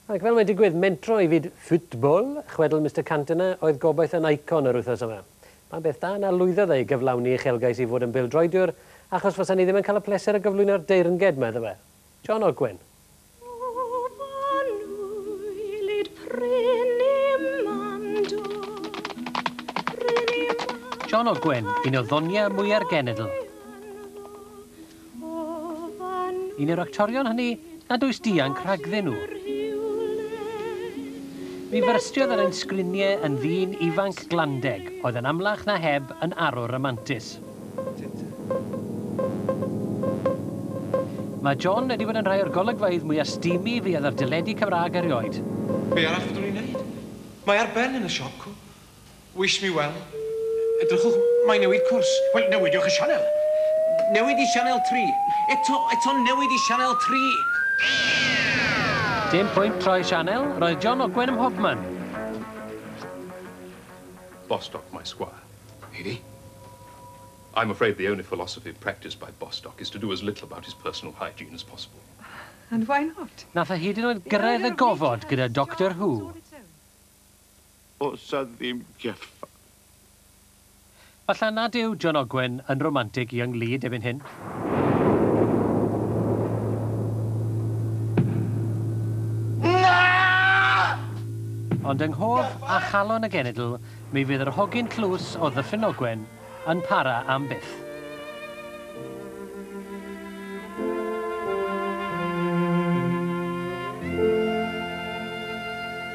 Ac fel mae'n digwydd, mentro i fyd ffwtbol, chwedl Mister Cantona oedd gobaith yn Icon yr wythnos yma. Pa beth da na lwyddodd e i gyflawni uchelgais i fod yn bêl-droediwr, achos fasa ni ddim yn cael y pleser o gyflwyno'r deyrnged, medda fe. John Ogwen. John Ogwen, un o ddoniau mwya'r genedl. Yn yr actorion hynny nad oes dianc rhagddyn nhw. Mi fyrstiodd ar ein sgriniau yn ddyn ifanc glandeg oedd yn amlach na heb yn arwr ramantus. Mae John wedi bod yn rhai o'r golygfeydd mwya' steamy fuodd ar deledu Cymraeg erioed. Be arall fyddwn i'n neud? Mae ar ben yn y siop, cŵl. Wish me well. Edrychwch, mae newid cwrs. Wel, newidiwch y sianel. Newid i sianel tri. Eto, eto, newid i sianel tri. Dim pwynt troi sianel, roedd John Ogwen ym mhobman. Bostock, my squire. Eirí? I'm afraid the only philosophy practised by Bostock is to do as little about his personal hygiene as possible. And why not? Nath e hyd yn oed gyrraedd y gofod gyda Doctor Who. Oes 'na ddim Jeffa? Falla nad yw John Ogwen yn romantig i ynglŷd erbyn hyn. Ond yng nghof a chalon y genedl mi fydd yr hogyn tlws o Ddyffryn Ogwen yn para am byth.